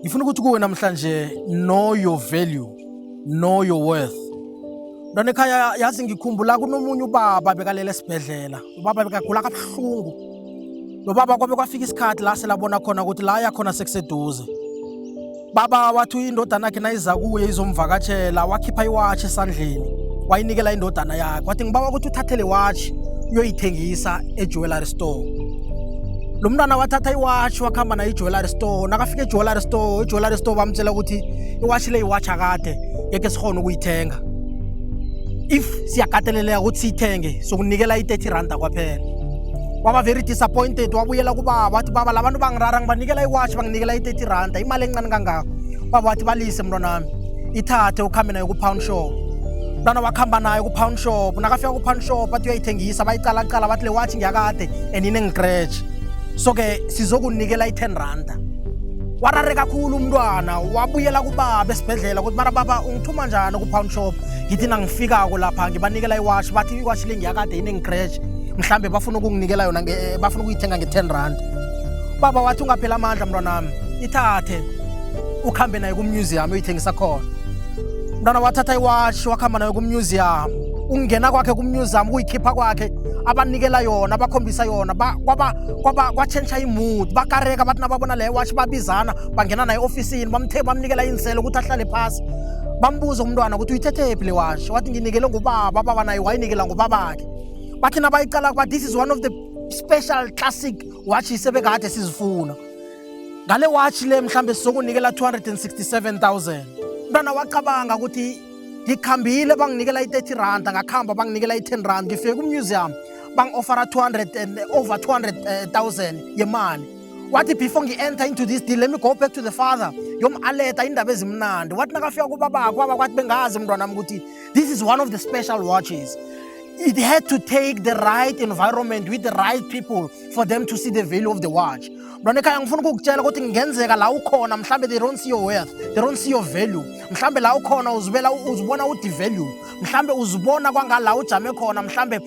ngifuna ukuthi kuwe namhlanje know your value know your worth mntwana ekhaya yazi ngikhumbula kunomunye ubaba bekalele esibhedlela ubaba bekagula kabuhlungu lo baba kwabe kwafika isikhathi la selabona khona ukuthi la yakhona sekuseduze baba wathi indodana yakhe nayiza kuye izomvakatshela wakhipha iwatshi esandleni wayinikela indodana yakhe wathi ngibawa ukuthi uthathele watshi uyoyithengisa ejewellery store lo mntwana wathatha iwashi wakuhamba nayo ijewelary store nakafika ejewelary store ijewelary store bamtshela ukuthi iwashi le iwashi akade ngeke sikhona ukuyithenga if siyakateleleka ukuthi siyithenge sokunikela i-30 randa kwaphela waba very disappointed wabuyela kubaba wathi baba labantu bangirara ngibanikela iwashi banginikela i-30 randa imali encane kangako baba wathi balise mntwanami ithathe ukhambe nayo ku-pound shop mntwana wakuhamba nayo ku-pound shop nakafika ku-pound shop athi uyayithengisa bayicalacala bathi le watshi ngiyakade and inengicratch so-ke sizokunikela i-ten randa warare kakhulu umntwana wabuyela kubaba esibhedlela ukuthi mara baba ungithuma njani ku-pound shop ngithi nangifikako lapha ngibanikela iwashi bathi iwashi le ngiyakade inengicratch mhlawumbe bafuna ukunginikela yona eh, bafuna ukuyithenga nge-ten rand baba wathi ungaphela amandla mntwanami ithathe ukuhambe naye kumuseum uyithengisa khona Mntwana wathatha iwashi wakuhamba nayo kummuseum. Ungena kwakhe kummuseum kuyikhipha kwakhe abanikela yona bakhombisa yona kwaba kwaba kwatshentsha imood bakareka bathi nababona le washi babizana bangena naye ofisini bamthe bamnikela inselo ukuthi ahlale phasi bambuza umntwana ukuthi uyithethephi le washi wathi nginikele ngubaba baba naye wayinikela ngubabakhe bathi nabayiqala kuba this is one of the special classic watches ebekade sizifuna ngale watch le mhlambe sizokunikela 267000 mntwana wacabanga ukuthi ngikhambile banginikela i-30 rand ngakhamba banginikela i-10 rand ngifike kumuseum bangi-ofara 200 over 200000 yemali wathi before ngi-enter into this deal let me go back to the father yom-aleta indaba ezimnandi wathi nakafika kubabakho abakwathi bengazi mntwanami ukuthi this is one of the special watches it had to take the right environment with the right people for them to see the value of the watch mntwana ekhaya ngifuna ukukutshela ukuthi ngenzeka la ukhona mhlawumbe they don't see your worth they don't see your value mhlawumbe la ukhona uzibela uzibona udevalue mhlawumbe uzibona kwangala ujame khona mhlawumbe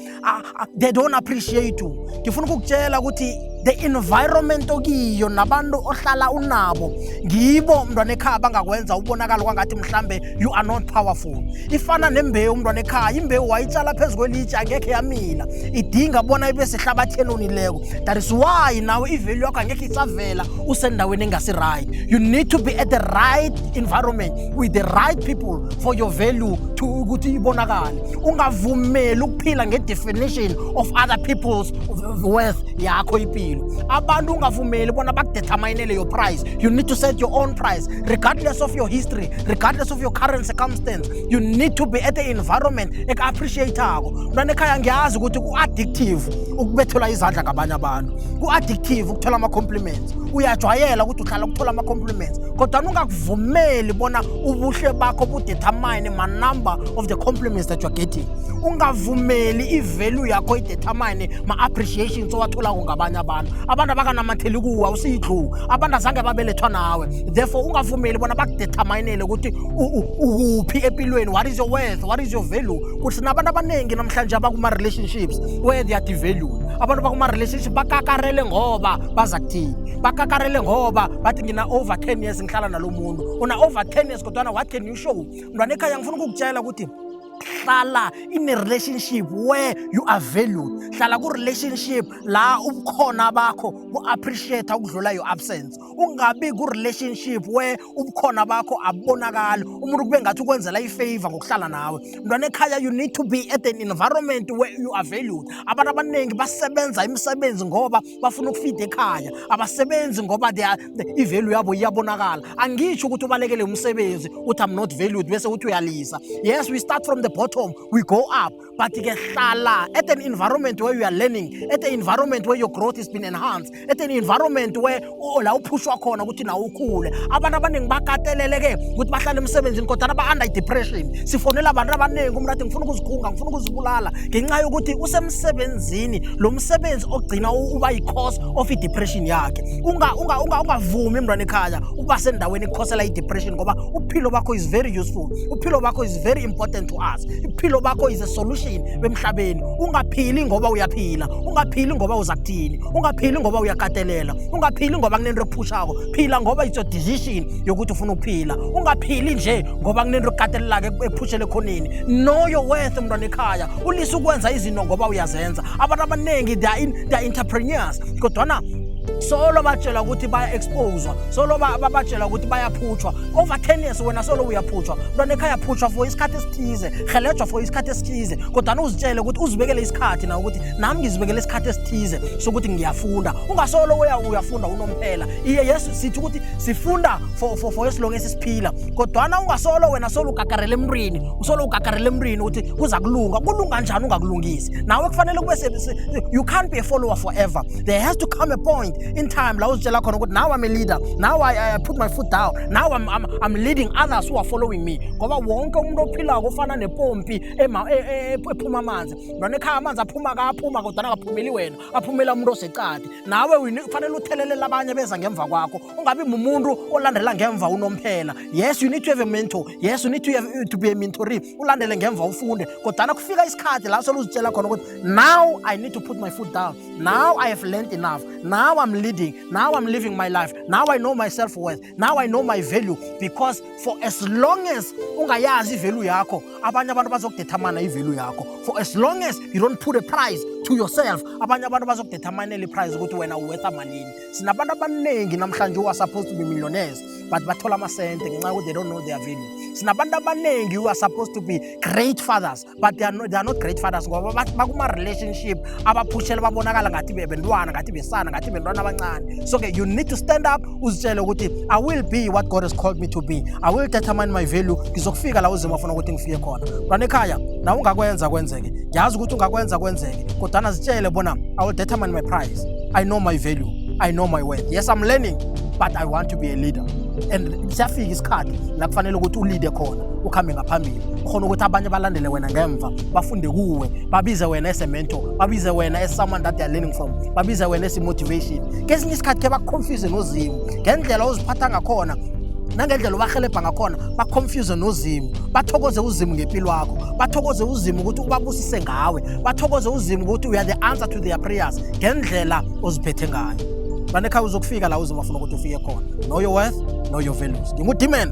they don't appreciate you ngifuna ukukutshela ukuthi the environment okiyo nabantu ohlala unabo ngibo mntwana ekhaya bangakwenza ubonakala kwangathi mhlawumbe you are not powerful ifana nembewu umntwana ekhaya imbewu wayitshala phezu kwelitshe angekhe yamila idinga bona ibe sehlabatheni onileko that is why nawe ivelu yakho angekhe isavela usendaweni engasi-right you need to be at the right environment with the right people for your value to ukuthi ibonakale ungavumeli ukuphila nge-definition of other people's worth yakho impilo abantu ungavumeli bona bakudeterminele your price you need to set your own price regardless of your history regardless of your current circumstance you need to be at an environment eka-appreciatako mntwana ekhaya ngiyazi ukuthi ku-addictive ukubethelwa izandla ngabanye abantu ku-addictive ukuthola ama-compliments uyajwayela ukuthi uhlala ukuthola ama-compliments kodwa ungakuvumeli bona ubuhle bakho budetermine ma-number of the compliments that you're getting ungavumeli ivalue yakho idetermine ma-appreciations owatholako ngabanye abantu abantu abakanamatheli kuwe usiyidluku abantu azange babelethwa nawe therefore ungavumeli bona bakudeterminele ukuthi ukuphi empilweni what is your worth what is your value kuthi nabantu abaningi namhlanje abakuma-relationships where they are devalued abantu bakuma-relationship bakakarele ngoba baza kuthini bakakarele ngoba bathi ngina-over 10 years ngihlala nalo muntu una-over 10 years kodwana what can you show mntwana ekhaya ngifuna ukukutshela ukuthi hlala in a relationship where you are valued hlala ku-relationship la ubukhona bakho ku-appreciate ukudlula your absence ungabi ku-relationship where ubukhona bakho abubonakali umuntu kube ngathi ukwenzela ifavor ngokuhlala nawe mntwana ekhaya you need to be at an environment where you are valued abantu abaningi basebenza imisebenzi ngoba bafuna ukufida ekhaya abasebenzi ngoba ivalue yabo iyabonakala angisho ukuthi ubalekele umsebenzi uthi i'm not valued bese uthi uyalisa yes we start from the bottom we go up but ke hlala at an environment where you are learning at an environment where your growth has been enhanced at an environment where la uphushwa khona ukuthi nawe ukhule abantu abaningi bakatelele ke ukuthi bahlale emsebenzini kodwa aba-under depression sifonela abantu abaningi umntu athi ngifuna ukuzikhunga ngifuna ukuzibulala ngenxa yokuthi usemsebenzini lo msebenzi ogcina uba yi-cause of i-depression yakhe ungavumi mntwana ekhaya ukuba sendaweni ekhosela i-depression ngoba uphilo bakho is very useful uphilo bakho is very important to us iphilo bakho is a solution emhlabeni ungaphili ngoba uyaphila ungaphili ngoba uza kuthini ungaphili ngoba uyakatelela ungaphili ngoba kunento ephushako phila ngoba it's your decision yokuthi ufuna ukuphila ungaphili nje ngoba kunento ekatelelake ephushele ekhoneni know your worth mntwana ekhaya ulisa ukwenza izinto ngoba uyazenza abantu abaningi they are, in, they are entrepreneurs kodwana solo batshela ukuthi baya-exposwa solo babatshela ukuthi bayaphutshwa over 10 years wena solo uyaphutshwa mntwana ekhaya phutshwa for isikhathi esithize helejwa for isikhathi esithize kodwana uzitshele ukuthi uzibekele isikhathi na ukuthi nami ngizibekele isikhathi esithize sokuthi ngiyafunda ungasolo uya uyafunda unomphela iye yesu sithi ukuthi sifunda for, for, for esilonge esisiphila kodwana ungasolo wena solo ugagarele emntwini usolo ugagarele emntwini ukuthi kuza kulunga kulunga njani ungakulungisi nawe kufanele kube you can't be a follower forever there has to come a point in time la uzitshela khona ukuthi now I'm a leader now I, I put my foot down now I'm, I'm, I'm leading others who are following me ngoba wonke umuntu ophilako ofana nepompi e, e, ephuma amanzi lona ekhaya amanzi aphuma kaphuma kodwana akaphumeli wena aphumela umuntu osecadi nawe kufanele uthelelela abanye beza ngemva kwakho ungabi mumuntu olandela ngemva unomphela yes you need to have a mentor yes you need to, have, to be a mentoree ulandele ngemva ufunde kodwana kufika isikhathi la soluzitshela khona ukuthi now I need to put my foot down Now I have learned enough. Now I'm leading. Now I'm living my life. Now I know my self worth. Now I know my value because for as long as ungayazi value yakho, abanye abantu bazokudetermine i-value yakho. For as long as you don't put a price to yourself, abanye abantu bazokudetermine le price ukuthi wena uwetha malini. Sinabantu abaningi namhlanje who are supposed to be millionaires but bathola amasente ngenxa yokuthi they don't know their value. Sinabantu abaningi who are supposed to be great fathers but they are, no, they are not great fathers ngoba bakuma-relationship abaphushele babonakala ngathi bebentwana ngathi besana ngathi bentwana abancane so ke you need to stand up uzitshele ukuthi i will be what god has called me to be i will determine my value ngizokufika la uzima afuna ukuthi ngifike khona mntwana ekhaya nawe ungakwenza kwenzeke ngiyazi ukuthi ungakwenza kwenzeke kodwana zitshele bona i will determine my price i know my value i know my worth yes i'm learning but i want to be a leader and siyafika isikhathi la kufanele ukuthi ulide khona ukhambe ngaphambili ukhona ukuthi abanye balandele wena ngemva bafunde kuwe babize wena esemento babize wena esomeone that they're learning from babize wena esimotivation kesinye isikhathi ke bakuconfuse nozimu ngendlela oziphatha ngakhona nangendlela obahelebha ngakhona baconfuse nozimu bathokoze uzimu ngempilo wakho bathokoze uzimu ukuthi ubabusise ngawe bathokoze uzimu ukuthi uya the answer to their prayers ngendlela oziphethe ngayo banekhaya uzokufika la uzimu afuna ukuthi ufike khona know your worth know your values ngingudimeni